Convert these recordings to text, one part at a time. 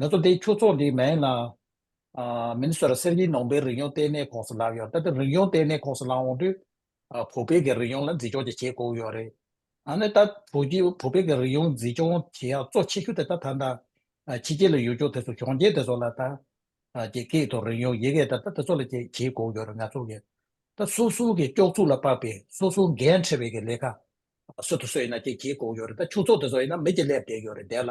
ནག་ཚོ་དེ་ཁྱུ་ཚོགས་འདི་མེད་ན། མིན་ཟེར་གསེར་གྱི་ནོངས་པའི་རིག་ཡོངས་ལྟེ་གནས་ཁོགས་སུ་ལངས་ཡོང་ད་ལྟ་རིག་ཡོངས་ལྟེ་གནས་ཁོགས་སུ་ལངས་འོང་དུས། བོད་པའི་གི་རིག་ཡོངས་ལ་འཛིན་སྐྱོང་ཀྱི་བྱེད་དགོས་ཡོད་རེད། ད་ནི་ད་བོད་པའི་གི་རིག་ཡོངས་འཛིན་སྐྱོང་བྱེད་ཡག་གཙོ་ཆེ་ཤོས་དེ་ད་ད་ད་ཕྱི་རྒྱལ་ལ་ཡོད་སྐྱོ་དེ་ཚོ་གཞོན་སྐྱེས་དེ་ཚོ་ལ་ད་ཀྱི་སྐད་དང་རིག་ཡོངས་ཡི་གེ་ད་ད་དེ་ཚོ་ལ་ཀྱི་བྱེད་དགོས་ཡོད་རེད་ནག་ཚོ་གི་ད་སོ་སོ་གི་སྐྱོགས་ཚུགས་ལ་དཔག་པའི་སོ་སོ་འགན་འཁྲི་བའི་གི་ལས་ཀ་སོད་དུ་སོད་ཡིན་ན་ཀྱི་བྱེད་དགོས་ཡོད་རེད་ད་ཁྱུ་ཚོགས་དེ་ཚོ་ཡིན་ན་མི་ཀྱི་སླེབས་བསྡད་ཡོད་རེད་བསྡད་ལ་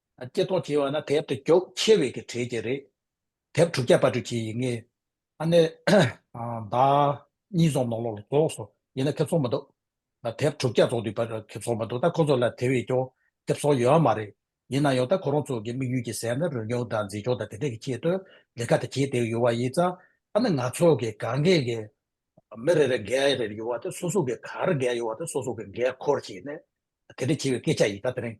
སྐྱེ་ཐོག་བྱེ་བ་ན་དེབ་དེ་མགྱོགས་ཆེ་བས་ཀྱི་གྲས་ཀྱི་རེད། དེབ་དྲུག་བརྒྱ་དཔར་སྐྲུན་བྱས་ཡིན་ངེས། ཨ་ནེ། བདག། གཉིས་རྫོང་ནོར་ལོག་ལ་རྫོགས་སོང་ཡིན་ན་ཁེབ་ཚོགས་མི་འདུག། དེབ་དྲུག་བརྒྱ་རྫོགས་དུས་པར་ཁེབ་ཚོགས་མི་འདུག་ད་ཁོ་ཚོ་ལ་དེ་བས་ཀྱོག་དེབ་ཚོགས་ཡོད་ཨ་མ་རེད། ཡིན་ན་ཡང་ད་ཁོ་རང་ཚོ་གི་དམིགས་ཡུལ་གྱི་ཟེར་ན་རོལ་མྱོང་དང་མཛེས་ལྗོངས་དང་དེ་འདྲ་གི་ཆེད་དུ་ལས་ཀ་དེ་བྱེད་བསྡད་ཡོད་བ་ཡིན་ཙང་ཨ་ནེ་ང་ཚོ་གི་གང་གཱས་ཀྱི་མི་རེ་རེ་འགས་རེ་རེ་ཡོད་བ་དེ་སོ་སོ་གི་གར་འགས་ཡོད་བ་དེ་སོ་སོ་གི་འགས་འཁོར་བྱས་ནས་དེ་འདྲ་བྱས་བའི་སྐད་ཆ་ཡིན་ད་དེ་རིང།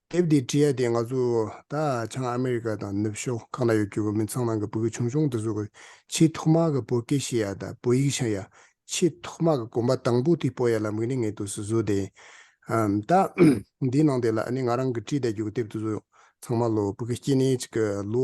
དེབ་འདི་བྲིས་ཡ་དེ་ང་ཚོ་ད་ཆང་ཨ་མི་རི་ཀ་དང་ནུབ་ཕྱོགས་གང་ན་ཡོད་རྒྱུ་བ་མི་ཚང་ནང་གི་བོད་ཀྱི་ཆུང་ཆུང་འདི་ཚོ་གི་ཆེས་ཐོག་མ་གི་བོད་སྐད་ཤེས་ཡ་དང་བོད་ཡིག་ཤེས་ཡ་ཆེས་ཐོག་མ་གི་གོམ་པ་དང་པོ་དེ་སྤོ་ཡ་ལམ་གི་ནི་ངས་དུས་སུ་བཟོས་དེ་ཡིན། ད་འདིའི་ནང་དེ་ལ་ནི་ང་རང་གི་བྲིས་བསྡད་རྒྱུ་བ་དེབ་འདི་ཚོ་ཚང་མ་ལོ་བོད་སྐད་སྐྱིད་ནས་ཅིག་གི་ལོ།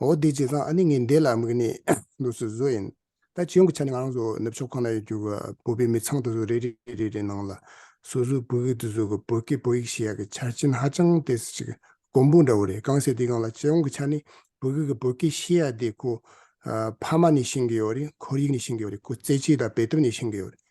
འོ་བདེ་བྱས་ཙང་ཨ་ནི་ངའི་འདས་ལ་དམིགས་ནས་ནུབ་སུ་བཟོ་ཡིན། ད་ཇོ་བོ་ཆ་ནི་ང་རང་ཚོ་ནུབ་ཕྱོགས་ཁོ་ན་ཡོད་རྒྱུ་གི་བོད་པའི་མི་ཚང་དུ་སུ་རེ་རེ་རེ་རེ་རེ་ནང་ལ་སུ་སུ་བོད་ཡིག་ཏུ་བཟོ་གི་བོད་སྐད་བོད་ཡིག་ཞེས་ཡག་གི་ཆ་རྐྱེན་ཧ་ཅང་དེ་སུ་ཅིག་གོང་བུ་འདྲ་བོ་རེད་གང་ཟེར་དེ་གང་ལ་ཇེ་བོང་གི་ཆ་ནི་བོད་ཡིག་གི་བོད་སྐད་ཤེས་ཡག་དེ་ཁོ་ཕ་མ་ནས་ཤེས་གི་ཡོད་རེད་ཁོར་ཡིག་ནས་ཤེས་གི་ཡོད་རེད་ཁོ་རྩེད་ཆས་དང་བེད་ཐུབ་ནས་ཤེས་གི་ཡོད་རེད།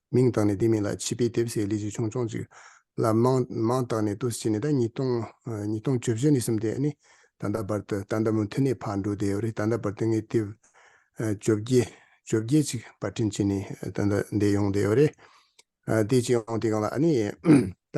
མིང་བཏགས་ནས་དེ་མིན་ལ་བྱིས་པའི་དེབ་སའི་ལས་ཅི་བྱུང་ཆུང་ཅིག་ལ་མང་མང་བཏགས་ནས་ཏུ་བྱས་ནས་ད་ཉིས་སྟོང་ཉིས་སྟོང་བཅུ་བཞི་ནས་གསུམ་དེ་ནི་ད་ལྟ་བར་དུ་ད་ལྟ་མུ་མཐུད་ནས་ཕར་འགྲོ་བསྡད་ཡོད་རེད་ད་ལྟ་བར་དུ་ངས་དེབ་བཅོ་བརྒྱད་བཅོ་བརྒྱད་ཅིག་པར་སྐྲུན་བྱས་ནས་ད་ལྟ་བསྡད་ཡོང་བསྡད་ཡོད་རེད། དེ་ཅི་ཡང་དེ་གང་ལ་ཨ་ནི་ད།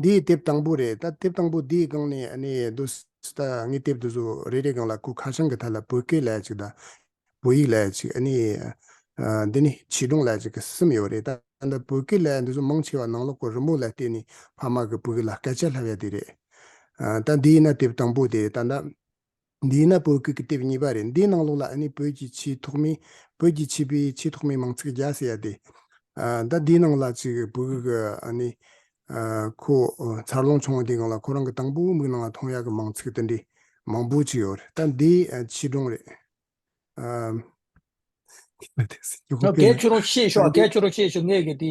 འདི་དེབ་དང་པོ་རེད་ད་དེབ་དང་པོ་འདིའི་སྒང་ནས་ཨ་ནེ་རྡོ་སི་ད་ངས་དེབ་དེ་ཚོ་རེ་རེའི་སྒང་ལ་སྐུ་ཁ་བྱང་གི་མཐའ་ལ་བོད་སྐད་ལས་གཅིག་དང། བོད་ཡིག་ལས་གཅིག་ཨ་ནེ། འདི་ནི་བྱིས་སྒྲུང་ལས་གཅིག་གི་སིམ་ཡོད་རེད་ད་ད་ལྟ་བོད་སྐད་ལས་འདི་ཚོ་མང་ཆེ་བ་ནང་ལོག་གི་རི་མོ་ལ་བལྟས་ནས་ཕ་མ་གི་བུ་གི་ལ་སྐད་ཆ་ལྷ་བས་དེ་རེད། ད་འདིའི་ན་དེབ་དང་པོ་དེ་ད་ད། འདི་ནི་བོད་ཁུལ་གྱི་དེབ་གཉིས་པ་རེད་འདིའི་ནང་ལོགས་ལ་ཨ་ནི་བོད་ཀྱི་ཆེས་ཐོག་མའི། བོད་ཀྱི་བྱིས་པའི་ཆེས་ཐོག་མའི་མང་ཚིག་བརྒྱ་ཟེར་ཡ་དེ། ད་འདིའི་ནང་ལ་ཅིག་བོད་ཁུལ་གྱི་ཨ་ནི། ཁོ། འཚར་ལོངས་བྱུང་བ་དེའི་སྒང་ལ་ཁོ་རང་གི་དང་པོའི་མིག་ནང་ལ་མཐོང་ཡ་གི་མང་ཚིག་དེ་འདྲའི་མང་པོ་ཅིག་ཡོད་རེད་ད་འདི། ཆིག་སྒྲུང་རེད། ཨ། ད་གལ་ཆེ་རུང་ཤེས་ཤོག་གལ་ཆེ་རུང་ཤེས་ཤོག་ངས་ཀྱི་འདི།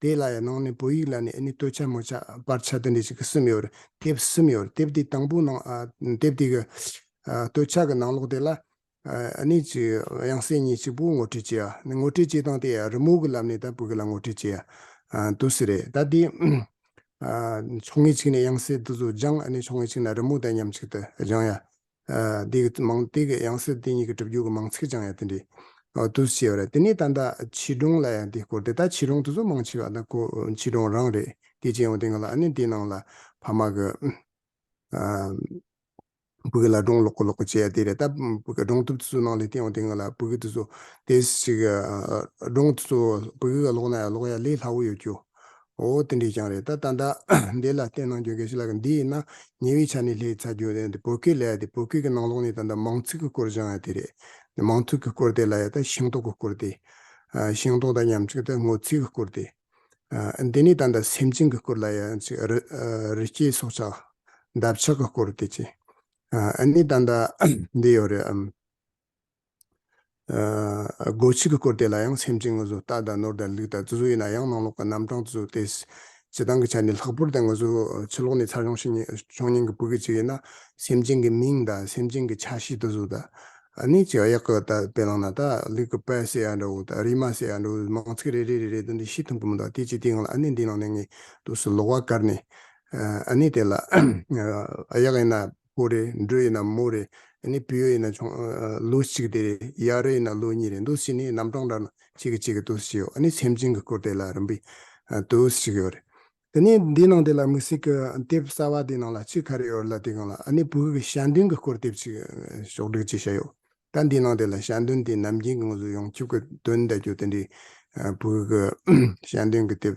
དེ་ལ་ཡང་ནང་ནས་བོད་ཡིག་ལ་ནི་ཨེ་ནི་སྟོད་ཆ་མོ་ཆ་སྤར་ཆ་དེ་འདྲ་ཞིག་གསུམ་ཡོད། དེབ་གསུམ་ཡོད། དེབ་དེའི་དང་པོའི་ནང་དེབ་དེ་གི་སྟོད་ཆ་གི་ནང་ལོགས་དེ་ལ་ཨེ་ནི་ཅིག་དབྱངས་གསལ་གཉིས་གཅིག་པུ་ངོ་སྤྲོད་བྱས། ནི་ངོ་སྤྲོད་བྱེད་སྟངས་དེ་ཡང་རི་མོ་གི་ལམ་ནས་ད་བོད་སྐད་ལ་ངོ་སྤྲོད་བྱས། དུ་སི་རེད་ད་དེ། ཕྱོགས་ངེས་གཅིག་ནས་དབྱངས་གསལ་དུ་སུ་སྦྱང་ཨེ་ནི་ཕྱོགས་ངེས་གཅིག་ན་རི་མོ་དང་མཉམ་གཅིག་ཏུ་སྦྱང་ཡ། འདི་གི་མང་ཏིག་གི་ཡང་སྲིད་དེ་ཉིད་ཀྱི་གྲུབ་རྒྱུད་ཀྱི་མང་ཚིག་ཀྱང་ཡང་དེ་འདྲའི་དུ་ཆེ་བ་རེད། དེ་ནས་ད་ལྟ་ཕྱི་གྲོང་ལ་ཡང་དེའི་སྐོར་དེ་ལྟར་ཕྱི་གྲོང་དུ་ཚོ་མང་ཆེ་བ་དང་ཁོ་ཕྱི་གྲོང་རང་རེད་དེ་སྤྱི་ཡོངས་དེ་ག་ལ་ཨ་ནི་དེའི་ནང་ལ་ཕ་མ་གི་བུ་ག་ལ་གྲོང་ལོག་གོ་ལོག་གོ་བྱས་དེ་རེད་ད་བུ་ག་གྲོང་ཐུབ་དེ་ཚོའི་ནང་ལས་དེ་ཡོང་དེ་ག་ལ་བུ་ག་དེ་ཚོ་དེ་ཞིག་གྲོང་དེ་ཚོ་བུ་ག་ག་ལོག་ན་ཡང་ལོག་ཡ་ལས་སླ་བོ་ཡོད་རྒྱུ། འོ་དེ་འདྲས་ཀྱང་རེད་ད་ལྟ་ཟླ་འདི་ལ་བལྟས་གནང་རྒྱུ་གལ་ཆེ་ལགས་འདི་ཡིན་ན་ཉེ་བའི་ཆ་ནས་ལྷའི་ཚ་རྒྱུད་ལས་འདི་བོད་སྐད་ལས་འདི་བོད་སྐད་ཀྱི་ནང་ལོགས་ནས་ད་ལྟ་མང་ཚིག་གི་སྐོར་སྦྱང་ཡ་དེ་རེད་འདི་མང་ཚུགས་ཀྱི་སྐོར་དེ་ལ་ཡ་ད་ཤིང་ཏོག་གི་སྐོར་དེ། ཤིང་ཏོག་དང་ཉམས་ཅིག་ད་ངོ་ཚིག་གི་སྐོར་དེ། འདི་ནས་ད་ལྟ་སེམས་ཅན་གྱི་སྐོར་ལ་ཡ་ཅིག་རི་རི་སྐྱེས་སྲོག་ཆགས་འདབ་ཆགས་ཀྱི་སྐོར་དེ་ཅིག་ཨ་ནི་ད་ལྟ་འདི་ཡོད་རེད་ཨམ། སྒོ་ཕྱུགས་ཀྱི་སྐོར་དེ་ལ་ཡང་སེམས་ཅན་ངུ་ཟུག་རྟ་དང་ནོར་དང་ལུག་དང་རྫི་ཟུག་ཡིན་ན་ཡང་ནང་ལོགས་ཀྱི་རྣམ་གྲངས་དུ་གཟུགས་ཏེ། བྱེ་ཐང་གི་ཆ་ནས་ལྷག་པོར་དེ་ངུ་ཟུག་ཕྱི་ལོགས་ནས་ཚར་ཡོང་ཞིང་ཕྱོགས་ཉིན་གྱི་བུ་གའི་ཆེད་ཡིན་ན་སེམས་ཅན་གྱི་མིང་དང་སེམས་ཅན་གྱི་ཆ་ཤས་དུ་གཟུགས། ད་ནི་ཅི་ཡག་གི་དཔེ་བླངས་ན་ད་ལུག་གི་པད་སེ་ཡང་འདྲ་བོ་དང་རིལ་མ་སེ་ཡང་འདྲ་བོ་མང་ཚིག་རེ་རེ་རེ་རེ་དུ་འདི་ཤི་ཐུང་གི་མི་འདུག་དེ་ཅི་དེའི་ངང་ལ་ཨ་ནེ་འདིའི་ནང་ནས་ངས་དུས་སུ་ལོགས་བ་བཀར་ནས་ཨ་ནེ་དེ་ལ་ཡག་ཡིན་ན་ཀུ་རེད་འབྲུ་ཡིན་ན་མུ་རེད་ནི་བེའུ་ཡིན་ན་ཆུང་ལུགས་གཅིག་དེ་རེད་ཡ་རེད་ཡིན་ན་ལུགས་གཉིས་རེད་འདུག་སི་ནི་རྣམ་གྲངས་འདྲ་ན་གཅིག་གིས་གཅིག་གི་དུས་སུ་ཞིག་ཡོད་ནི་སེམས་ཅན་གྱི་སྐུར་དེ་ལ་རིམ་པས་དུས་སུ་ཞིག་ཡོད་རེད། དེ་ནི་འདིའི་ནང་དེ་ལ་དམིགས་བསལ་གྱི་དེབ་གསར་བ་དེའི་ནང་ལ་གཅིག་ག་རེ་ཡོད་རེད་ལ་དེ་གང་ལ་ནི་བོད་ཀྱི་ཞལ་འདོན་གྱི་སྐོར་དེབ་ཅིག་ཕྱོགས་བསྒྲིགས་བཅས་བྱས་ཡོད། ད་འདིའི་ནང་དེ་ལ་ཞལ་འདོན་དེ་ནམ་རྒྱུན་གྱི་ངོ་བཟུང་ཡོང་ཁྱབ་ཀྱི་དོན་བལྟ་རྒྱུ་དེ་འདྲའི་བོད་ཀྱི་ཞལ་འདོན་གྱི་དེབ་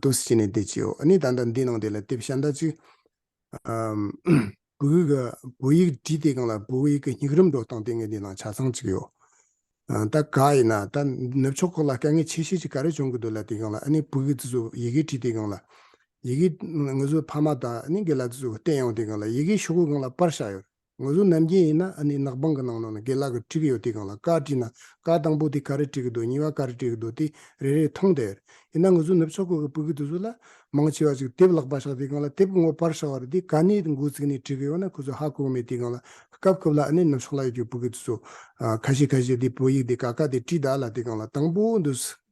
ཏུ་ཟིན་ནས་དེ་བྱའོ། ནི་ད་ལྟར་འདི་སྣང་དེ་ལ་དེ་བཞིན་བཟླ། ཅི། བུ་ག། བུ་ཡིག་བྲིས་དེ་གང་ལ་བུ་ག་ཡིག་གི་སྙིགས་རམས་སྒྲོགས་སྟངས་དེ་ངས་འདི་ན་ཆ་ཚང་བྱས་ཡོད། ད་ག་ཡིན་ན་ད་ནུབ་ཕྱོགས་ཁོག་ལ་དཀའ་ངལ་ཆེ་ཤོས་ཅིག་ག་རེ་བྱུང་གི་འདུག་ལ་དེ་གང་ལ་ནི་བུ་ག་དེ་ཚོ་ཡི་གེ་བྲིས་དེ་གང་ལ། ཡི་གེ། ངོས་ཚོ་ཕ་མ་དང་ནི་གི་ལ་དེ་ཚོ་བསྟན་ཡོང་དེ་གང་ལ་ཡི་གེ་ཤོག་གུ་གང་ལ་སྤར་བཞག་ཡོད། ངོས་བཟུང་ནམ་རྒྱུན་ཡིན་ན་ཨ་ནི་ནག་པང་གི་ནང་ན་ནི་དགེ་ལག་གི་བྲིས་གི་ཡོད་དེ་གང་ལ་དཀར་བྲིས་ན་དཀར་དང་པོ་དེ་ག་རེ་བྲིས་གི་འདུག་གཉིས་བ་ག་རེ་བྲིས་གི་འདུག་དེ་རེ་རེ་མཐོང་དེ། ཡིན་ན་ངོས་བཟུང་ནུབ་ཕྱོགས་ཁུལ་གྱི་བོད་གི་དུས་ཚོད་ལ། མང་ཆེ་བ་ཞིག་དེབ་ལག་པ་ཤག་དེ་གང་ལ་དེབ་གི་ངོ་པར་ཤག་བར་དེ་ག་ནས་འགོ་བཙུགས་ནས་བྲིས་གི་ཡོད་ན་ཁོ་ཚོས་ཧ་གོ་གི་མེད་དེ་གང་ལ། སྐབས་སྐབས་ལ་ཨ་ནི་ནུབ་ཕྱོགས་ལ་ཡོད་རྒྱུ་བོད་གི་དུས་ཚོད། ཁ་ཤས་ཁ་ཤས་དེ་བོད་ཡིག་དེ་ག་ག་དེ་བྲིས་གདའ་ལ་དེ་གང་ལ་དང་པོ་འདུག་སྲིད།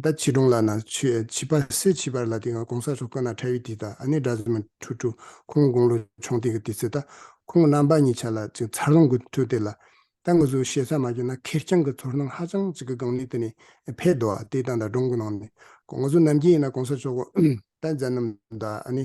ད་ཕྱི་དྲོང་ལ་ན་ཆུའི་བྱིས་པ་སེ་བྱིས་པར་ལ་དེ་སྔ་གོང་ས་སོ་ཀ་ན་ཁྲ་བི་དི་ད་ཨ་ནེ་སྒྲ་ཟི་མ་ཁྲུ་ཁྲུ་ཁོང་དགུང་ལོ་ཆུང་དེ་གི་དེ་ཚེ་ད་ཁོང་གི་རྣམ་པ་གཉིས་ཆ་ལ་ཅིག་མཚར་ལོང་གི་ཐུག་དེ་ལ་ད་ངུ་ཟུག་བྱེད་ས་མ་བྱུང་ན་ཁེར་རྐྱང་གི་ཚོར་སྣང་ཧ་ཅང་ཅིག་གི་གང་ནུས་དེ་ནས་འཕེལ་འདུག་དེ་ད་ད་དྲོང་གི་ནང་ནས་ངུ་ཟུག་ནམ་རྒྱུན་ཡིན་ན་གོང་ས་མཆོག་གི་ད་མཛའ་རྣམ་ད་ཨ་ནེ་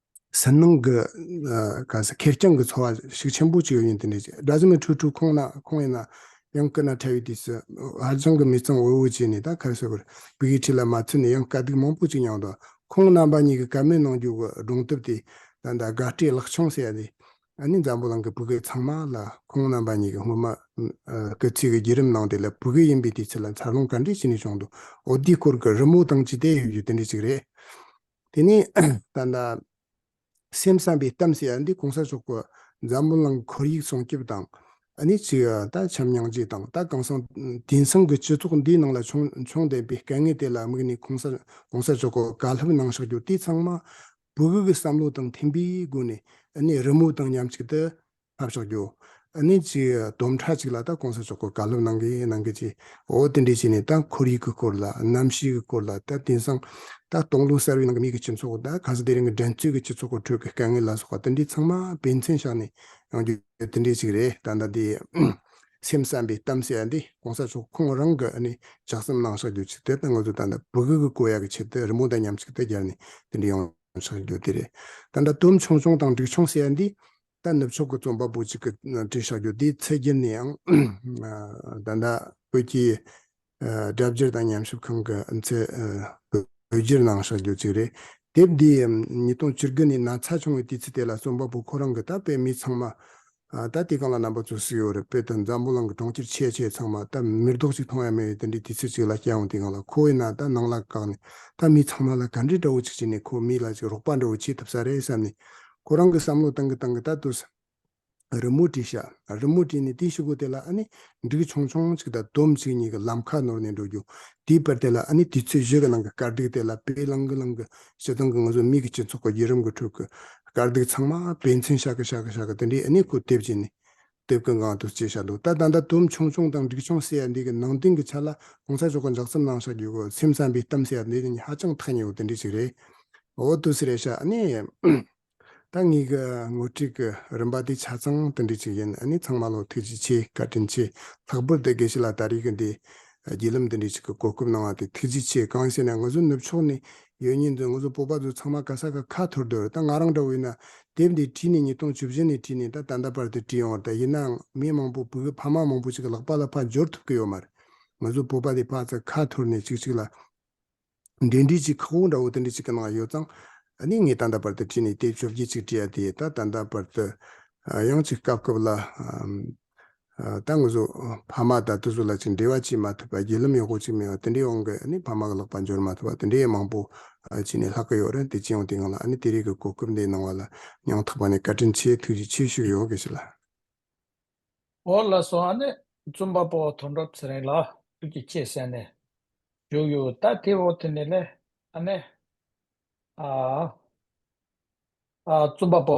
ཟིལ་གནོན་གྱི་གང་ཟེར་ཁེར་རྐྱང་གི་འཚོ་བ་ཞིག་ཆེན་པོ་ཅིག་ཡོད་ཡིན་དེ་ནས་སྦྲ་གཟུགས་མི་ཁྲུ་ཁྲུ་ཁོང་ན་ཁོང་ཡིན་ན་ཡང་སྐུ་ན་ཕྲ་བའི་དུས་སུ་ཧར་ལྗང་གི་མི་གཙང་འུར་འུར་བྱས་ནས་ད་གར་སོས་པར་བུ་ཡི་ཁྲི་ལ་མ་ཚུད་ནས་ཡང་དཀའ་སྡུག་མང་པོ་ཅིག་མྱངས་འདུག་ཁོང་རྣམ་པ་གཉིས་ཀྱི་བཀའ་མོལ་གནང་རྒྱུ་གི་སྒྲུང་དེབ་དེ་ད་ལྟ་དགའ་སྤྲེལ་ལགས་ཆུང་སྲས་ལས་ཨ་ནེ་འཛམ་བུ་གླིང་གི་བུ་གེ་ཚང་མ་ལ་ཁོང་རྣམ་པ་གཉིས་ཀྱི་སྔོན་མ་ཀྱི་ཚིག་གི་བརྒྱུད་རིམ་གནང་དེ་ལ་བུ་གེ་ཡིན་པའི་དུས་ཚོད་ལ་འཚར་ལོངས་ག་འདྲས་བྱས་ནས་བྱུང་འདུག་འོ་དེའི་སྐོར་གྱི་རི་མོ་དང་ཅི་བདེ་ཡོད་རྒྱུ་དེ་འདྲས་ཅིག་རེད། དེ་ནས་ད་ལྟ་སེམས་བསམ་པའི་གཏམ་ཟེར་བ་འདི་གོང་ས་མཆོག་གི་འཛམ་བུ་གླིང་ཁོར་ཡུག་སྲུང་སྐྱོབ་དང། ནི་ཚེ་ད་བྱམས་མྱང་འཇིགས་དང་ད་གང་སང་དེང་སང་གི་སྤྱི་ཚོགས་འདིའི་ནང་ལ་བྱུང་བྱུང་བསྡད་པའི་དཀའ་ངལ་དེ་ལ་དམིགས་ནས་གོང་ས་གོང་ས་མཆོག་གི་བཀའ་སློབ་གནང་ཤག་རྒྱུ་དེ་ཚང་མ་བོད་གི་བསམ་བློ་དང་མཐུན་པའི་སྒོ་ནས་ནི་རི་མོ་དང་མཉམ་གཅིག་ཏུ་ལྷག་ཆོག་རྒྱུ། ནི་གཅིག་བསྡོམས་ཁྲ་གཅིག་ལ་ད་གོང་ས་མཆོག་སྐོར་ག་ལུགས་གནང་གི་གནང་གི་ཅི། འོ་དེ་འདྲས་བྱས་ནས་ད་ཁོར་ཡུག་གི་སྐོར་ལ་གནམ་གཤིས་ཀྱི་སྐོར་ལ་ད་དེང་སང་ད་སྟོང་ལུགས་གསར་བའི་ནང་གི་མིག་གི་སྤྱི་ཚོགས་ད་ག་ས་དེ་རིང་གི་འགྲན་རྩོད་ཀྱི་སྤྱི་ཚོགས་སྐོར་ཁྲོད་ཀྱི་དཀའ་ངལ་ལ་སོགས་པ་དེ་འདྲས་ཚང་མ་བེད་མཚན་བཞག་ནས་ཡོང་རྒྱུ་དེ་འདྲས་ཅིག་རེད་ད་ད་དེ། སེམས་བསམ་པའི་གཏམ་བཤད་འདི་གོང་ས་མཆོག་ཁོང་རང་གི་ནི་ལྕགས་ཟམ་གནང་ཤག་རྒྱུ་ཅིག་དེ་ད་ང་ཚོ་ད་ད་བོད་ཁུལ་གྱི་བཀོད་ཡག་གི་ཆེད་དུ་རི་མོ་ད་མཉམ་ཅིག་ད་སྦྱར་ནས་དེ་འདྲས་ཡོང་ཤག་རྒྱུ་དེ་རེད་ད་ད་དུམ་ཆུང་ཆུང་དང་འགྲིག་ཆུང་བཤད་འདི་རྟ་ནུབ་ཕྱོགས་ཀྱི་རྩོམ་པ་པོ་ཅིག་གི་བཀྲིན་བཤགས་རྒྱུ་དེའི་ཚད་བརྒལ་ནས་ཡང་ད་ལྟ་བོད་ཀྱི་སྒྲ་བསྒྱུར་དང་ཉམས་ཞིབ་ཁང་གི་ཚད་བགོས་རྒྱུར་གནང་བཤགས་རྒྱུ་ཅིག་རེད། དེབ་འདིའི་ཉིས་སྟོང་བཅུར་དགུ་ནས་ན་ཚ་བྱུང་བའི་དུས་ཚིགས་དེ་ལ་རྩོམ་པ་པོ་ཁོ་རང་གི་ད་སྤེལ་མི་ཚང་མ་ད་དེ་གང་ལ་རྣམ་པ་ཚོ་སུའི་འོག་རུ་སྤེལ་དུ་འཛམ་བུ་གླང་གི་གྲོང་ཁྱེར་ཆེ་ཆེ་ཚང་མ་ད་མིར་རྡོག་ཅིག་མཐོང་ཡ་མེད་བའི་དེ་འདྲའི་དུས་ཚིགས་ཅིག་ལ་སྐྱེ་འོང་དེ་གང་ལ་ཁོ་བས་ན་ད་ནང་ལ་བཀག་ནས་ད་མི་ཚང་མ་ལ་ག་འདྲི་འདྲ་བོ་ཅིག་བྱས་ནས་ཁོ་མི་ལ་ཅིག་རོགས་པ་འདྲ་བོ་བྱེད་ཐུབ་ས་རེད་བསམ་ནས་ཁོ་རང་གི་བསམ་བློ་བཏང་གི་བཏང་གི་ད་ལྟོས་ས་རི་མོ་བྲིས་ཤག་རི་མོ་བྲིས་ནས་དེའི་ཕྱི་སྒོ་དེ་ལ་ཨ་ནི་འགྲིག་ཆུང་ཆུང་གཅིག་དང་དོམ་གཅིག་གཉིས་ཀྱི་ལམ་ཁ་ནོར་ནས་འགྲོ་རྒྱུ་དེའི་བར་དེ་ལ་ཨ་ནི་དུས་ཚོད་བཞི་གི་ནང་གི་དཀར་སྡིག་དེ་ལ་བེའི་བླང་གི་བླང་གི་བྱེད་སྟངས་ཀྱི་ང་ཚོ་མིག་གི་སྤྱི་ཚོགས་ཀྱི་བརྒྱུད་རིམ་གྱི་ཁྲོད་ཀྱི་དཀར་སྡིག་ཚང་མ་བེའི་མཚན་ཤག་གི་ཤག་གི་ཤག་གི་དེ་འདྲའི་ཨ་ནི་ཁོ་དེབ་ཅིག་ནས་དེབ་ཀྱི་འགངས་དུ་བྱས་བཞག་འདུག་ད་ད་ལྟ་དོམ་ཆུང་ཆུང་དང་འབྲིག་ཆུང་ཟེར་ཡ་འདི་གི་ནང་དོན་གྱི་ཆ་ལ་གོང་ས་མཆོག་གི་འཇགས་ཚུལ་གནང་ཤག་རྒྱུ་གོ་ཚེམ་བསམ་པའི་གཏམ་ཟེར་ཡ་འདི་ནི་ཧ་ཅང་ཐག་ཉེ་བོ་དེ་འདྲས་ཅིག་རེད་འོ་དུ་ཟེར་ཡ་ཤག་ཨ་ནི། ད་ངེད་ཀྱི་ངོ་སྤྲིད་ཀྱི་རིམ་པ་དེ་ཆ་ཚང་དེ་འདྲས་ཅིག་ཡིན་ཨ་ནི་ཚང་མ་ལོ་ཐུགས་རྗེ་ཆེ་བཀའ་དྲིན་ཆེ་ལྷག་པོར་དེ་དགེ་བཤེས་ལ་ད་རིགས་ཀྱི་འདི་བརྒྱུད་ལམ་དེ་འདྲས་ཅིག་གི་གོ་སྐབས་གནང་བ་དེ་ཐུགས་རྗེ་ཆེ་གང་ཟེར་ན་ང་ཚོ་ནུབ་ཕྱོགས་ནས་ཡོད་ཉིན་དུ་ང་ཚོ་སྤོབས་པ་ཚོ་ཚང་མ་ག་ས་ག་ཁ་འཐོར་འདུག་ད་ང་རང་འདྲ་བོ་ཡིན་ན་དེབ་འདི་བྲིས་ནས་ཉིས་སྟོང་བཅུ་བཞི་ནས་བྲིས་ནས་ད་ད་ལྟ་བར་དུ་བྲིས་ཡོང་ད་ཡིན་ནའང་མི་མང་པོ་བོད་པའི་ཕ་མ་མང་པོ་ཅིག་གི་ལག་པ་ལ་ཕ་འབྱོར་ཐུབ་ཀི་ཡོད་མ་རེད་ང་ཚོ་སྤོབས་པ་དེ་ཕག་ཚ་ཁ་འཐོར་ནས་ཅིག་ཅིག་ལ་འབྲེལ་འདྲིས་ཅིག་ཁག་པོ་འདྲ་བོ་དེ་འདྲ་ཅིག་གི་ནང་ཡོད་ཙང་ནི་ངས་ད་ལྟ་བར་དུ་བྲིས་ནས་དེབ་བཅོ་བརྒྱད་ཅིག་བྲིས་ཡ་དེ་ད་ད་ལྟ་བར་དུ་ཡང་ཅིག་སྐབས་སྐབས་ལ། ཏང་སོགས་ཕ་མ་དང་དུ་སོགས་ལ་ཅིག་འབྲེལ་བ་བྱེད་མ་ཐུབ་པ་རྒྱུས་ལམ་ཡག་པོ་ཅིག་མེད་པ་དེ་འདྲའི་དབང་གིས་ནི་ཕ་མ་གི་ལག་པ་འབྱོར་མ་ཐུབ་པ་དེ་འདྲའི་མང་པོ་བྱས་ནས་ལྷག་གི་ཡོད་རེད་འདི་སྤྱི་ཡོངས་དེ་གང་ལགས་ནི་དེ་རིགས་ཀྱི་གོ་སྐབས་འདི་གནང་བ་ལ་ཡང་དག་པ་ནས་བཀའ་དྲིན་ཆེ་ཐུགས་རྗེ་ཆེ་ཞུ་ཡོང་གི་ཞུ་ལ། འོ་ལ་སོང་ཨ་ནི་རྩོམ་པ་པོ་དོན་གྲུབ་ཚེ་རིང་ལགས་ཐུགས་རྗེ་ཆེ་ཟེར་ནས་བཞུགས་ཡོད་ད་ཐེ་བོ་དེ་ནི་ལས་ཨ་ནི། རྩོམ་པ་པོ།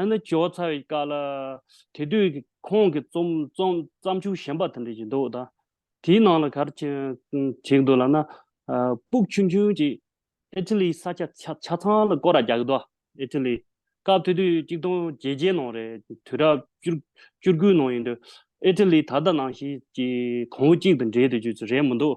ཨ་ནི་ཇོ་ཚ་བའི་བཀའ་ལ། དེ་དུས་ཁོང་གི་རྩོམ་བརྩམས་ཆོས་གཞན་པ་དེ་འདྲ་ཞིག་འདུག་ད། དེའི་ནང་ལ་གར་བྱས་འདུག་ལ་ན། སྤུག་ཆུང་ཆུང་གཅིག་ཨི་ཏི་ལིའི་ས་ཆ་ཆ་ཚང་ལ་སྐོར་ར་རྒྱག་གི་འདུག་ཨི་ཏི་ལི། སྐབས་དེ་དུས་གཅིག་སྟོང་བརྒྱད་བརྒྱའི་ནང་རེད་དུས་རབས་བཅུ་བཅུ་དགུའི་ནང་ཡིན་དུས། ཨི་ཏི་ལི་ད་ལྟ་ནང་བཞིན་གྱི་གོང་བུ་གཅིག་ཏུ་འགྲིལ་དུ་རྒྱུ་རེད་མི་འདུག་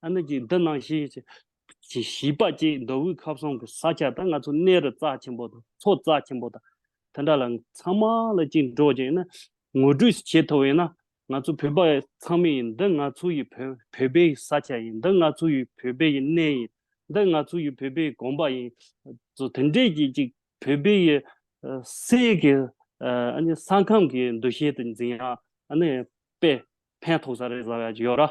ཨ་ནུ་ཅིག་འདི་གནང་ཞིག། བྱིས་པ་ཅིག་མདོ་དབུས་ཁ་བསང་གི་ས་ཆ་དང་ང་ཚོ་གནས་རི་རྩ་ཆེན་པོ་དང་མཚོ་རྩ་ཆེན་པོ་དང་དེ་འདྲ་ལ་ཚང་མ་ལ་ཅིག་འགྲོ་ཅིག་ན་ངོ་སྤྲོད་བྱེད་ཐུབ་ཡོད་ན་ང་ཚོ་བོད་པ་ཚང་མས་ཡིན་འདི་ང་ཚོ་ཡི་བོད་བོད་པའི་ས་ཆ་ཡིན་འདི་ང་ཚོ་ཡི་བོད་པའི་ཡི་གནས་ཡིན་འདི་ང་ཚོ་ཡི་བོད་པའི་དགོན་པ་ཡིན། ཚོ་དེ་འདྲས་ཀྱིས་ཅིག་བོད་པའི་ཡི་སྲས་ཀྱི་ཨ་ནི་ས་ཁམས་ཀྱི་འདུ་ཤེས་དེ་འཛིན་ཡག་ཨ་ནི་དཔེ་ཕན་ཐོགས་ས་རེད་བཟའ་བ་ཡག་ཅིག་ཡོད་ར།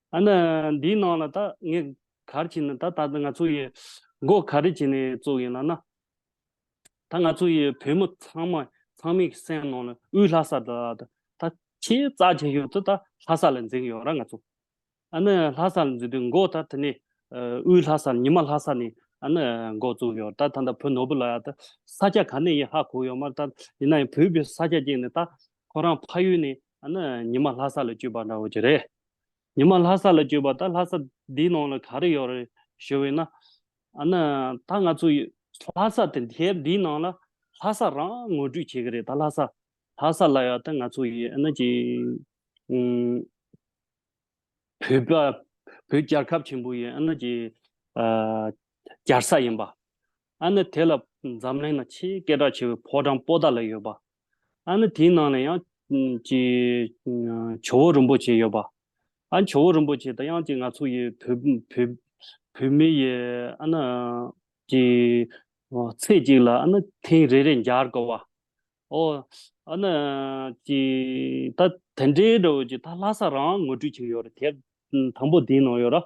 ཨ་ན། འདིའི་ནང་ལ་ད་ངས་གར་བྱས་ནས་ད་ད་ང་ཚོ་ཡི་མགོ་ག་རེ་བྱས་ནས་བཙུགས་ཡིན་ལ་ན། ད་ང་ཚོ་ཡི་བོད་མི་ཚང་མ་ཚང་མའི་གི་སེམས་ནང་ལ་དབུས་ལྷ་ས་ད་ད་ད་ཆེས་རྩ་ཆེན་ཤོས་དེ་ད་ལྷ་ས་ལ་འཛིན་གི་ཡོད་ར་ང་ཚོ། ཨ་ན་ལྷ་ས་ལ་འཛིན་དུས་མགོ་ད་དེ་ནས་དབུས་ལྷ་ས་ཉི་མ་ལྷ་ས་ནས་ཨ་ན་མགོ་བཙུགས་ཡོད་ད་ད་ད་བོད་ནོར་བུ་ལ་ཡང་ད་ས་སྐྱ་ག་ནས་ཡི་ཧ་གོ་ཡོད་མ་ད་ཡིན་ན་ཡང་བོད་པའི་ས་སྐྱ་སྐྱེས་ནས་ད་ཁོ་རང་ཕ་ཡུལ་ནས་ཨ་ན་ཉི་མ་ལྷ་ས་ལ་བསྐྱོད་པ་འདྲ་བོ་ཅི་རེད། ཉི་མ་ལྷ་ས་ལ་བསྐྱོད་པ་ད་ལྷ་ས་འདིའི་ནང་ལ་ག་རེ་ཡོད་རེད་ཞུས་བས་ན། ཨ་ན། ད་ང་ཚོ་ལྷ་ས་དེ་ཐེར་འདིའི་ནང་ལ་ལྷ་ས་རང་ངོ་སྤྲོད་བྱེད་གི་རེད་ད་ལྷ་ས། ལྷ་ས་ལ་ཡོད་ད་ང་ཚོ་ཡི་ཨ་ན་ཀྱི། བོད་པ་བོད་རྒྱལ་ཁབ་ཆེན་པོ་ཡི་ཨ་ན་ཀྱི། རྒྱལ་ས་ཡིན་པ། ཨ་ནི་དེ་ལ་འཛམ་གླིང་ན་ཆེས་སྐད་གྲགས་ཆེ་བའི་ཕོ་བྲང་པོ་ཏཱ་ལ་ཡོད་པ། ཨ་ནི་དེའི་ནང་ལ་ཡང་ཀྱི་ཇོ་བོ་རིན་པོ་ཆེ་ཡོད་པ། ཨ་ཇོ་བོ་རིན་པོ་ཆེ་དང་ཡང་ཀྱི་ང་ཚོ་ཡི་བོད་མི་ཡི་ཨ་ནི་ཀྱི་ཚེས་གཅིག་ལ་ཨ་ནི་ཐེངས་རེ་རེ་འཇར་དགོས་པ། ཨོ་ཨ་ནི་ཀྱི་ད་དེ་འདྲའི་རོལ་ཀྱི་ད་ལྷ་ས་རང་ངོ་སྤྲོད་བྱེད་ཀྱི་ཡོད་རེད་དེ་དང་པོ་དེའི་ནང་ཡོད་ར།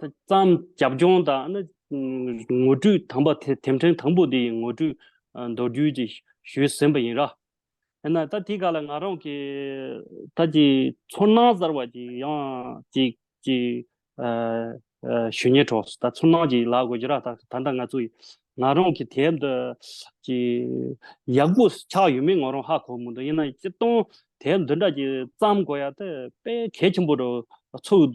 བརྩམས་རྒྱབ་ལྗོངས་དང་ངོ་སྤྲོད་དམ་པ་དེ་དེབ་ཕྲེང་དང་པོ་འདིའི་ངོ་སྤྲོད་མདོར་བསྡུས་ཀྱིས་ཞུས་ཟིན་པ་ཡིན། ར་ཧེ་ན་ད་དེ་ག་ལ་ང་རང་གི་ད་ཀྱི་ཚོར་སྣང་གསར་བ་ཅིག་ཡང་ཅིག་ཅིག་ཞུ་ཉེ་གྲོགས་སུ་ད་ཚོར་སྣང་ཅིག་ལག་དགོས་ཀྱི་ར་ད་ད་ད་ང་ཚོ་ང་རང་གི་དེབ་འདི་ཀྱི་ཡག་པོ་ཆགས་ཡོད་མེད་ང་རང་ཧ་གོ་མི་འདུག་ཡིན་ན་སྤྱིར་བཏང་དེབ་འདི་འདྲ་ཅིག་བརྩམས་དགོས་ཡ་དེ་དཔེ་གལ་ཆེན་པོ་རུ་ཚུགས་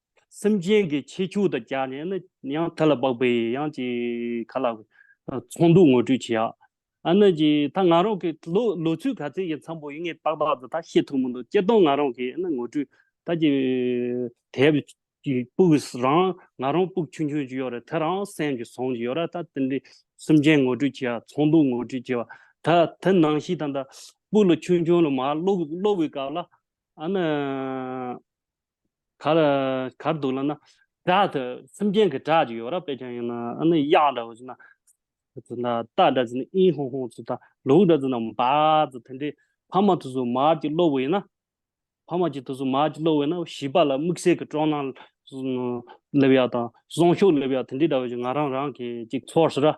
སེམས་ཅན་གྱི་ཁྱེད་ཁྱོད་དང་བཅས་ནས་ནི་ཡང་དེ་ལ་དཔག་པའི་ཡང་ཅི་ག་ལ། ཚོགས་འདུ་ངོ་སྤྲོད་བྱས། ཨ་ན་ཅི་ད་ང་རང་གི་ལོ་ལོ་ཚོད་ག་ཚད་ཀྱི་མཚམས་པོ་ཡིན་ངས་ཏག་ཏག་ཏུ་ད་ཤེས་ཐུབ་མི་འདུག་སྤྱིར་བཏང་ང་རང་གིས་ནི་ངོ་སྤྲོད་ད་ཅི། དེའི་བུ་སྤུགས་རང་ང་རང་སྤུགས་ཆུང་ཆུང་ཅིག་ཡོད་རེད་དེ་རང་སེམས་ཀྱི་བཟང་ཅིག་ཡོད་རེད་ད་དེ་འདྲའི་སེམས་ཅན་ངོ་སྤྲོད་བྱས་ཡ་ཚོགས་འདུ་ངོ་སྤྲོད་བྱས་པ་ད་དེ་ནང་ཤི་དང་ད་སྤུགས་ལ་ཆུང་ཆུང་ལ་མ་ལོག་ལོག་པའི་སྐབས་ལ་ཨ་ན། གར་གར་འདུག་ལབ་ན་སྒྲ་དེ་སེམས་ཅན་གྱི་སྒྲ་ཅིག་ཡོད་ར་དཔེ་ཅན་ཡིན་ན་ཨ་ནི་དབྱངས་འདྲ་བོ་ཅིག་ན་ཅིག་ན་རྟ་འདྲ་ཅིག་ན་ཨིན་ཧོང་ཧོང་ཅིག་ད་ལུག་འདྲ་ཅིག་ན་འབའ་ཅིག་དེ་འདྲའི་ཕ་མ་དུས་སུ་མར་གྱི་གློག་འོད་ཡིན་ན་ཕ་མ་གྱི་དུས་སུ་མར་གྱི་གློག་འོད་ན་བྱིས་པ་ལ་དམིགས་བསལ་གྱི་སྤྲོ་སྣང་སླེབས་ཡག་དང་གསོན་ཤུགས་སླེབས་ཡག་དེ་འདྲའི་འདྲ་བོ་ཅིག་ང་རང་རང་གིས་ཅིག་ཚོར་སྲིད་ར།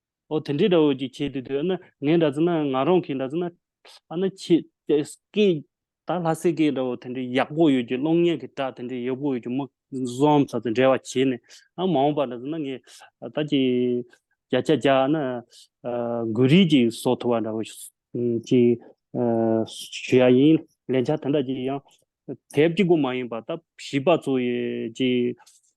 ཨོ་དེ་འདྲའི་འདྲ་བོ་ཅིག་བྱས་དུས་དུས་ཨ་ནི་ངས་འདྲ་ཙེ་ན་ང་རང་གིས་འདྲ་ཙེ་ན་ཨ་ནི་ཁྱེད་ཨེ་སི་ཀའི་ད་ལྷ་སྲས་ཀའི་འདྲ་བོ་དེ་འདྲའི་ཡག་པོ་ཡོད་ཀྱི་གློག་བརྙན་གྱི་སྒྲ་དེ་འདྲའི་ཡག་པོ་ཡོད་ཀྱི་མིག་བཟོ་འམ་ཚ་ཚ་འདྲ་བ་བྱས་ནས་ཨ་མ་འོངས་པ་འདྲ་ཙེ་ན་ངས་ད་ཅི་བརྒྱ་ཆ་བརྒྱ་ཨ་ནི་འགུལ་རིས་ཀྱིས་བཟོ་ཐུབ་པ་འདྲ་བོ་ཅིག་ཞུ་ཡ་ཡིན་ལན་ཆ་དེ་འདྲ་ཅིག་ཡང་དེབ་ཀྱི་སྒོ་མ་ཡིན་པ་ད་བྱིས་པ་ཚོ་ཡི་ཅིག།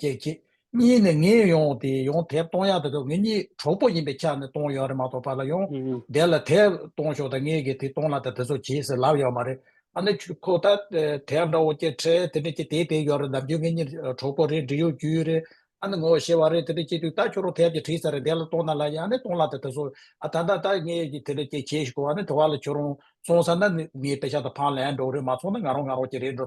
ཀྱེ་ཀྱེ། གཉིས་ནི་ངས་ཡོང་དེ་ཡོང་དེབ་གཏོང་ཡག་དེ་དུས་ངེད་གཉིས་གྲོགས་པོ་ཡིན་པས་ཆ་ནས་གཏོང་ཡོད་རེད་མ་གཏོགས་ཕར་ལ་ཡོང་བསྡད་ལ་དེབ་གཏོང་ཤོག་དང་ངེད་ཀྱིས་དེ་གཏོང་ལ་དང་དེ་ཚོ་བྱེད་ཟེར་ལབ་ཡོད་མ་རེད། ཨ་ནེ་ཁྱོད་ཁོ་ད་དེབ་འདྲ་བོ་སྐྱེལ་འཕྲལ་དེ་འདྲ་སྐྱེལ་དེ་བས་ཡོད་རེད་འདམ་ཁྱོད་ངེད་གཉིས་གྲོགས་པོ་རེད་འདྲི་ཡོད་རྒྱུ་ཡོད་རེད་ཨ་ནེ་ངོ་ཤེས་བ་རེད་དེ་འདྲ་སྐྱེལ་དུས་ད་ཁྱོད་རང་དེབ་ཀྱི་བྲིས་ཚར་རེད་བསྡད་ལ་གཏོང་ན་ལ་ཡིན་ཨ་ནེ་གཏོང་ལ་དང་དེ་ཚོ་ཨ་ད་ད་ད་ངེད་ཀྱིས་དེ་འདྲ་སྐྱེལ་བྱེད་ཤི་གོ་ཨ་ནེ་དེ་བ་ལ་ཁྱོད་རང་སོང་ས་ན་ངའི་པེ་ཤ་དང་ཕང་ལེན་འགྲོ་གི་རེད་མ་སོང་ན་ང་རང་ང་རང་གྱི་རེད་འགྲོ་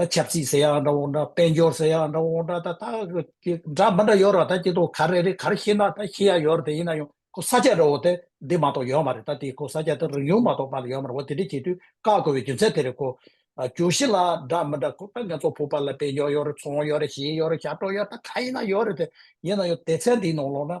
ད་ཆབ་སྲིད་ཟེར་ཡང་འདྲ་འོག་འདྲ་དཔལ་འབྱོར་ཟེར་ཡང་འདྲ་འོག་འདྲ་ད་ད་འདྲ་མི་འདྲ་ཡོད་ར་ད་ཀྱེ་ཏོ་ག་རེ་རེད་ག་རེ་ཤེས་ན་ད་ཤེས་ཡ་ཡོད་ར་དེ་ཡིན་ན་ཡང་ཁོ་ས་ཆ་རེ་འོག་དེ་འདི་མ་ཏོག་ཡོད་མ་རེད་ད་དེ་ཁོ་ས་ཆ་དེ་རིང་ཡོང་མ་ཏོག་པ་ལ་ཡོད་མ་རེད་འོ་དེ་འདྲ་བྱེད་དུས་བཀག་དགོས་པའི་རྒྱུ་མཚན་དེ་རེད་ཁོ། གྱོད་གཞི་ལ་འདྲ་མི་འདྲ་ཁོ་ད་ངེད་ཚོ་ཕུག་པ་ལ་དཔལ་འབྱོར་ཡོད་རེད་ཚོང་ཡོད་རེད་གཞས་ཡོད་རེད་ཞབས་བྲོ་ཡོད་རེད་ད་ག་ཡིན་ན་ཡོད་རེད་དེ་ཡིན་ན་ཡང་དེ་ཚན་དེའི་ནང་ལོག་ན་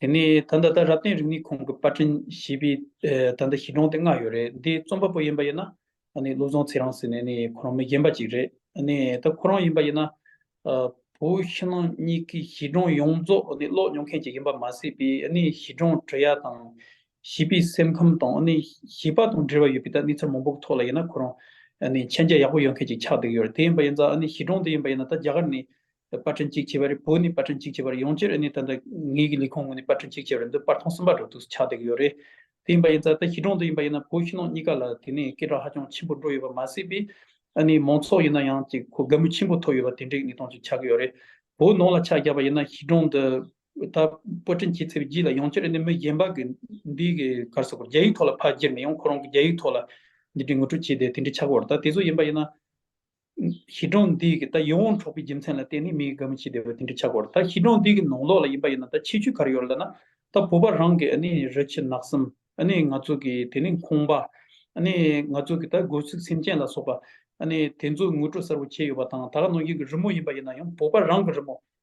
དེ་ནས་ད་ལྟ་རབ་བརྟན་རིག་གནས་ཁང་གི་པར་འཕྲིན་ཞེས་པའི་ད་ལྟ་གཞི་གྲོང་དེ་ལྔ་ཡོད་རེད་འདིའི་རྩོམ་པ་པོ་ཡིན་པ་ཡིན་ན་བློ་བཟང་ཚེ་རང་ཟེར་ནས་ཁོ་རང་མི་རྒན་པ་ཅིག་རེད་ད་ཁོ་རང་ཡིན་པ་ཡིན་ན་བོད་ཕྱི་ནང་གཉིས་ཀྱི་གཞི་གྲོང་ཡོངས་རྫོགས་ཀློག་མྱོང་མཁན་ཅིག་ཡིན་པ་མ་ཟད་པའི་གཞི་གྲོང་དྲི་ཡ་དང་བྱིས་པའི་སེམས་ཁམས་དང་བྱིས་པ་དང་འབྲེལ་བ་ཡོད་པའི་གནས་ཚུལ་མང་པོ་གི་ཐོག་ལ་ཡིན་ན་ཁོ་རང་མཆན་རྒྱ་ཡག་པོ་ཡོད་མཁན་ཅིག་ཆགས་བསྡད་ཡོད་རེད་དེ་ཡིན་པ་ཡིན་ཙང་གཞི་གྲོང་དེ་ཡིན་པ་ཡིན་ན་ད་རྒྱ་གར་ནས་པར་སྐྲུན་གཅིག་བྱས་པ་རེད་བོད་ནས་པར་སྐྲུན་གཅིག་བྱས་པ་རེད་ཡོང་རྒྱུར་ནི་ད་ལྟ་ངེད་ཀྱི་ལས་ཁུངས་ངོས་ནས་པར་སྐྲུན་གཅིག་བྱས་པ་རེད་འདི་པར་ཐོང་གསུམ་པ་འགྲོ་དུས་སུ་ཆགས་བསྡད་ཀྱི་ཡོད་རེད་དེ་ཡིན་པ་ཡིན་ཙང་ད་ཞི་གྲོང་དུ་ཡིན་པ་ཡིན་ན་བོད་ཕྱི་ནང་གཉིས་ཀ་ལ་དེ་ནས་སྐད་གྲགས་ཧ་ཅང་ཆེན་པོ་འགྲོ་ཡོད་པ་མ་ཟད་པས་ཨ་ནི་མང་ཚོགས་ཡིན་ན་ཡང་ཅིག་གོ་དགའ་མོས་ཆེན་པོ་ཐོབ་ཡོད་པ་དེ་འདྲའི་གནས་སྟངས་ཅིག་ཆགས་ཀྱི་ཡོད་རེད་བོད་ནང་ལ་ཆ་བཞག་པ་ཡིན་ན་ཞི་གྲོང་འདི་ད་པར་སྐྲུན་བྱས་ཚར་བའི་རྗེས་ལ་ཡོང་རྒྱུར་ནི་མི་གཞན་པ་གི་འདི་གི་གར་སོ་གར་རྒྱ་ཡིག་ཐོག་ལ་ཕར་བསྒྱུར་ནས་ཡང་ཁོ་རང་གི་རྒྱ་ཡིག་ཐོག་ལ་འདི་འདྲའི་ངོ་སྤྲོད་བྱས་བསྡད་དེ་འདྲ་ཆགས་ཀྱི་ཡོད་རེད་ད་དེ་ཚོ་ཡིན་པ་ཡིན་ན། གཞི་གྲོང་འདུས་ཀྱི་ད་ཡིད་འོང་གྲོགས་པོའི་རྒྱུ་མཚན་ལ་བརྟེན་ནས་མི་ཡི་དགའ་མོ་ཅི་བདེ་བ་དེ་འདྲ་ཆགས་དགོས་རེད་ད་གཞི་གྲོང་འདུས་ཀྱི་ནང་ལོགས་ལ་ཡིན་པ་ཡིན་ན་ད་ཆེས་ཆུ་གར་ཡོད་ལ་ན་ད་བུ་པ་རང་གི་ནི་རི་ཆུ་ནགས་གསུམ་ནི་ང་ཚོ་གི་དེ་ནི་ཁོང་པ་ནི་ང་ཚོ་གི་ད་དགོས་ཚུལ་སེམས་ཅན་ལ་སོགས་པ་ནི་དེ་ཚོ་ངོ་སྤྲོད་གསར་བོ་བྱས་ཡོད་པ་དང་ད་ག་ནང་བཞིན་གྱི་རི་མོ་ཡིན་པ་ཡིན་ན་ཡང་བུ་པ་རང་གི་རི་མོ་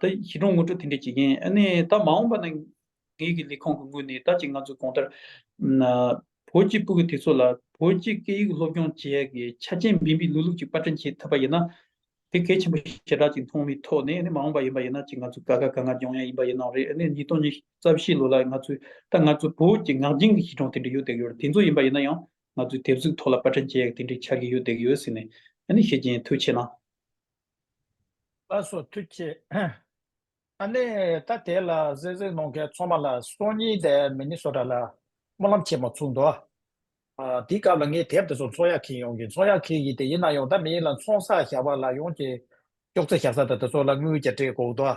ད་ཞི་ཁྲོང་ངོ་སྤྲོད་དེ་འདྲས་བྱེད་མཁན་ཨ་ནི་ད་མ་འོངས་པ་ན། ངེད་ཀྱི་ལས་ཁང་གི་ངོས་ནས་ད་ཅིག་ང་ཚོའི་གོང་ལྟར། བོད་ཀྱི་སྤུ་གི་དེ་ཚོ་ལ་བོད་ཀྱི་སྐད་ཡིག་སློབ་སྦྱོང་བྱས་ཀྱི་ཆ་རྐྱེན་འབེན་པའི་ལུས་ལུགས་ཅིག་པར་སྐྲུན་བྱེད་ཐུབ་པ་ཡིན་ན། དེ་གལ་ཆེན་པོ་ཞེ་དྲག་ཅིག་མཐོང་བའི་ཐོག་ནས་ཨ་ནི་མ་འོངས་པ་ཡིན་པ་ཡིན་ན་ཅིག་ང་ཚོ་དགའ་དགའ་དགའ་དགའ་སྦྱོང་ཡ་ཡིན་པ་ཡིན་ནོ་རེད་ཨ་ནི་ཉིས་སྟོང་ཉིས་རྩ་བཞི་ལོ་ལ་ང་ཚོའི་ད་ང་ཚོའི་བོད་ཀྱི་ངག་རྒྱུན་གྱི་ཞི་ཁྲོང་དེ་འདྲས་ཡོད་བསྡད་ཀྱི་ཡོད་རེད་དེ་ཚོ་ཡིན་པ་ཡིན་ན་ཡང་ང་ཚོའི་དེབ་གཟུགས་ཐོག་ལ་པར་སྐྲུན་བྱས་ཀྱི་དེ་འདྲས་ཆགས་ཀྱི་ཡོད་བསྡད་ཀྱི་ཡོད་ཟེར་ནས་ཨ་ནི་བཤད་ཀྱིན་ཐུགས་ཆེ་ན། ལ་སོགས་མཐུ་ཆེ། ཨ་ནི་ད་དེ་ལ་གཟེར་གཟེར་གནོང་མཁན་ཚོང་མ་ལ་སོ་གཉིས་དེ་མི་ནི་སོ་དྲ་ལ་སྨོན་ལམ་ཆེན་མོ་ཚུགས་འདུག། དེའི་སྐབས་ལ་ངས་དེབ་དེ་ཚོ་ཚོང་ཡ་ཁེ་ཡོང་གི་ཚོང་ཡ་ཁེ་ཡི་དེ་ཡིན་ན་ཡོང་ད་མི་ཡིན་ལ་ཚོང་ས་བཞག་པ་ལ་ཡོང་གི་ཅོག་ཙེ་བཞག་ས་དེ་དེ་ཚོ་ལ་དངུལ་གྱ་དྲེག་འགོག་འདུག།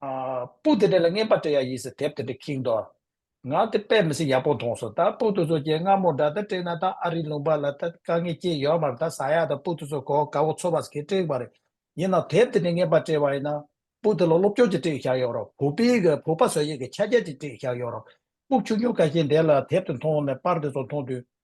སྤུ་དེ་འདྲ་ལ་རྔན་པ་སྤྲད་ཡ་ཡིས་དེབ་དེ་འདྲ་ཁེངས་འདུག་ང་དེ་དཔེ་མི་སྲིད་ཡག་པོ་མཐོང་སོང་ད་སྤུ་དེ་ཚོ་ཀྱེ་སྔ་མོ་འདྲ་ད་སྤྲད་ན་ད་ཨ་རིའི་ལུང་པ་ལ་ད་དཀའ་ངལ་སྐྱེས་ཡོད་མར་ད་ཟ་ཡག་ད་སྤུ་དེ་ཚོ་གོ་དགའ་བོ་ཚོ་བར་གྱི་སྤྲད་པ་རེད་ཡིན་ནའང་དེབ་དེ་འདྲ་རྔན་པ་སྤྲད་པ་ཡིན་ན་སྤུ་དེ་ལ་སློབ་སྐྱོར་གྱི་སྤྲད་བཞག་ཡོད་རོགས་བུ་སྤི་གི་བུ་ཕ་བཟོ་ཡས་ཀྱི་ཆ་རྒྱ་ཅིག་སྤྲད་བཞག་ཡོད་རོགས་སྤུ་ཆུང་ཆུང་ག་ཞིག་འདས་ལ་དེབ་དེ་མཐོང་ནས་པར་དེ་ཚོ་མཐོང་དུས་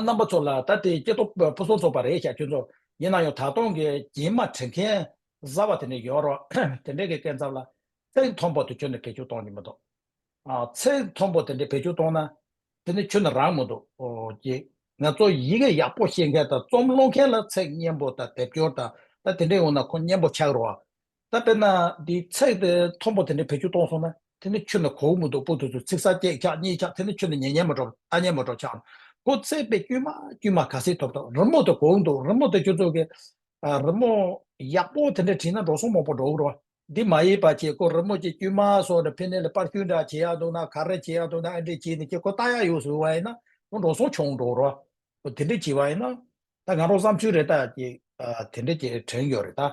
རྣམ་པ་ཚོ་ལ་ད་ལྟའི་སྐྱེ་སྟོབས་སྤོ་བསྲོ་ཚོགས་པ་རེད་ཤག་ཁྱོད་ཚོ། ཡིན་ན་ཡང་ད་དུང་གི་རྒྱན་མ་དྲན་མཁན་བཟའ་བ་དེ་འདྲ་ཡོད་རོགས། དེ་འདྲའི་གི་སྐད་འཚབ་ལ། ཚེགས་མཐོན་པོ་དེ་ཁྱོད་ནི་བེད་སྤྱོད་གཏོང་རྒྱུ་མི་འདུག། ཚེགས་མཐོན་པོ་དེ་འདྲ་བེད་སྤྱོད་གཏོང་ན། དེ་ནི་ཁྱོད་ནི་རང་མི་འདུག། ཀྱི། ང་ཚོ་ཡི་གེ་ཡག་པོ་ཤེས་མཁན་དང་རྩོམ་ཀློག་མཁན་ལ་ཚེགས་སྙན་པོ་དང་སྡེབ་སྦྱོར་དང་ད་དེ་འདྲ་ཡོང་ན་ཁོ་སྙན་པོ་ཆགས་རོགས། ད་དཔེར་ན་འདིའི་ཚེག་དེ་མཐོན་པོ་དེ་འདྲའི་བེད་སྤྱོད་གཏོང་སོང་ན་དེ་ནི་ཁྱོད་ལ་གོ་བོ་མི་འདུག་པོ་དེ་ཚོའི་ཚིག་ཟ་སྐད་འཁྱག་གཉིད་འཁྱག་དེ་ནི་ཁྱོད་ལ་ཉེ་ཉེ་མོ་འགྲོ་ཨ་ཉེ་མོ་འགྲོ་འཁྱག་ཁོ་བརྩེགས་པའི་དཀྱུས་མ་དཀྱུས་མ་ག་སྲིད་ཐོབ་ཐོབ་རི་མོ་དེ་གོ་བོ་འདུག་རི་མོ་དེ་ཁྱོད་ཚོ་གི་རི་མོ་ཡག་པོ་དེ་འདྲ་བྲིས་ན་འགྲོ་སོང་མོག་པོ་འགྲོ་བོ། འདི་མ་ཡིན་པ་ཁྱེད་ཁོ་རི་མོ་ཀྱི་དཀྱུས་མ་སོགས་ནི་ཕན་ནེ་ལ་པར་སྐྱུར་འདྲ་བྱེད་ཡག་འདུག་ན་ག་རེ་བྱེད་ཡག་འདུག་ན་ཨ་འདྲས་བྱས་ནས་ཁྱེད་ཁོ་ལྟ་ཡག་ཡོ་ཟོ་བ་ཡིན་ན་ཁོ་འགྲོ་སོང་ཆོང་འགྲོ་རོ། ཁོ་དེ་འདྲས་བྱས་བ་ཡིན་ན་ད་ང་རོ་བསམ་ཚུལ་རེད་ད་ཀྱི་དེ་འདྲས་ཀྱི་དྲན་ཡོད་རེད་ད།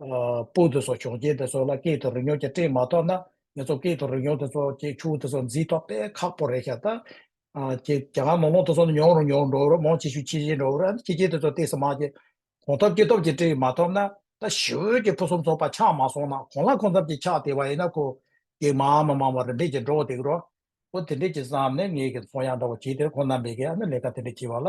སྤོས་དེ་སོགས་ཞོགས་ཀྱེ་དེ་སོགས་ལ་སྐད་དུ་རོལ་མྱོང་ཀྱང་སྤྲད་མ་ཐོག་ན་ངེད་ཚོ་སྐད་དུ་རོལ་མྱོང་དེ་སོགས་ཀྱི་ཆུ་བོ་དེ་སོགས་འཛིན་ཐོག་དཔེ་ཁག་པོ་རེད་ཤག་ཏག་ཀྱེ་གྱ་གང་མོག་མོག་དེ་སོགས་ནི་མྱོང་རུང་མྱོང་རུང་འགྲོ་རུ་མོང་ཆེ་ཤོས་ཆེ་ཤོས་འགྲོ་རུ་ཆེ་ཆེ་དེ་སོགས་ལྟས་སུ་མ་ཀྱེ་གོང་ཐོབ་ཀྱེ་ཐོབ་ཀྱིས་སྤྲད་མ་ཐོབ་ན་ད་ཞི་འོད་ཀྱི་ཕུན་སུམ་ཚོགས་པ་ཆགས་མ་སོང་ན་གོང་ལ་གོང་ཙམ་གྱིས་ཆགས་བསྡད་པ་ཡིན་ན་ཁོ་ཀྱེ་མ་མ་མང་བ་རེ་འབྲས་ཀྱིས་འགྲོ་བསྡད་ཀྱི་རོ། ཁོ་དེ་འདྲས་ཀྱིས་བསམ་ནས་ངེད་ཀྱི་ཚོང་ཡང་འདྲ་བོ་བྱས་དེར་ཁོ་ནམ་པའི་ག་ནས་ལས་ཀ་དེ་འདྲས་བྱས་པ་ལ་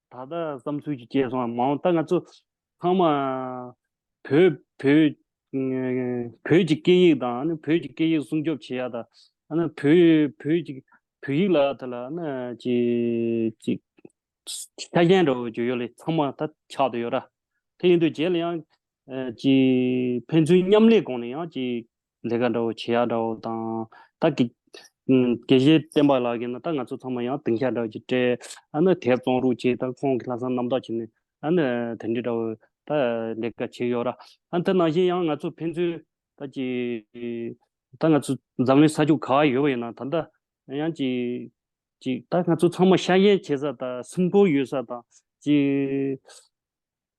ད་ལྟ་བསམ་ཚུལ་གྱི་སྐྱེས་སོང་མ་འོངས་ད་ང་ཚོ་ཚང་མ་བོད་བོད་བོད་ཀྱི་སྐད་ཡིག་དང་ནི་བོད་ཀྱི་སྐད་ཡིག་སྲུང་སྐྱོབ་བྱེད་ཡ་ད་ཨ་ན་བོད་བོད་ཀྱི་བོད་ཡིག་ལ་ད་ལ་ཨ་ན་ཅི་ཅི་ཆ་རྐྱེན་འདྲ་བོ་བརྗོད་ཡོད་ལེ་ཚང་མ་ད་ཆགས་དུ་ཡོད་ར། དེ་ཡིན་དུས་རྗེས་ལ་ཡང་ཅི་ཕན་ཚུན་མཉམ་ལས་གོང་ནས་ཡང་ཅི་ལས་ཀ་འདྲ་བོ་བྱེད་ཡག་འདྲ་བོ་དང། ད་གི། དགེ་བཤེས་བསྟན་པ་ལགས་ཀྱིས་ན་ད་ང་ཚོ་ཚང་མ་ཡང་དེང་ཤར་འདྲ་བོ་ཅིག་སྤྲད། ཨ་ནི་དེར་བཙོང་རུག་ཅིག་ད་ཁོང་གི་ལྷག་བསམ་རྣམ་དག་བྱེད་ནས་ཨ་ནི་དེ་འདྲི་འདྲ་བོ། ད་ལས་ཀ་བྱེད་ཡོད་ར། ཨ་དེ་ནང་བཞིན་ཡང་ང་ཚོ་ཕན་ཚུན། ད་ཅི། ད་ང་ཚོ་འཛམ་གླིང་ས་ཕྱོགས་ག་ཡོད་པ་ཡིན་ན་ད་ད། ཡང་ཅི། ཅིག་ད་ང་ཚོ་ཚང་མ་ཤ་ཡན་བྱེད་ས་དང་སེམས་ཁོང་ཡོད་ས་དང། ཅི།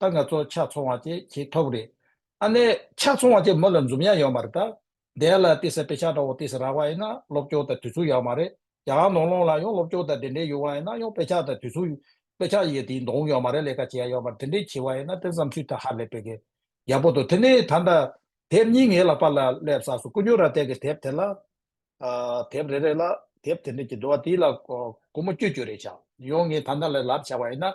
ད་ང་ཚོ་ཕྱག་ཚོང་བ་དེ་ཁྱེད་ཐོབ་རེད། ཨ་ནེ། ཕྱག་ཚོང་བ་དེ་མོ་ལ་འཛུམ་དབྱངས་ཡོད་མ་རེད་ད། འདས་ལ་ཏི་སེ་པེ་ཆ་འདྲ་བོ་ཏི་སེ་རག་པ་ཡིན་ན་སློབ་སྐྱོར་དང་དུས་ཚུགས་ཡག་མ་རེད། ཡང་ནོར་ལོངས་ལ་ཡང་སློབ་སྐྱོར་དང་འབྲེལ་འབྲེལ་ཡོད་བ་ཡིན་ན་ཡང་པེ་ཆ་དང་དུས་ཚུགས། པེ་ཆ་ཡི་དེའི་མདོག་ཡོད་མ་རེད་ལས་ཀ་བྱེད་ཡ་ཡོད་པ་དེ་འདྲས་བྱེད་བ་ཡིན་ན་དེ་བསམ་ཚུལ་དེ་ཧ་ལས་པེ་གི། ཡག་པོ་འདུག་དེ་ནས་ད་ལྟ། དེབ་གཉིས་ངའི་ལག་པ་ལ་སླེབས་ས་སུ་སྐུ་སྙུག་ར་སྟེགས་ཀྱི་དེབ་དེ་ལ། དེབ་རེ་རེ་ལ་དེབ་དེ་འདྲས་ཀྱི་འདུག་བ་དེའི་ལ་སྒོ་མོ་བསྐྱུར་བསྐྱུར་རེ་བྱ། ཡང་ངས་ད་ནང་ལ་ལབ་བྱ་བ་ཡིན་ན།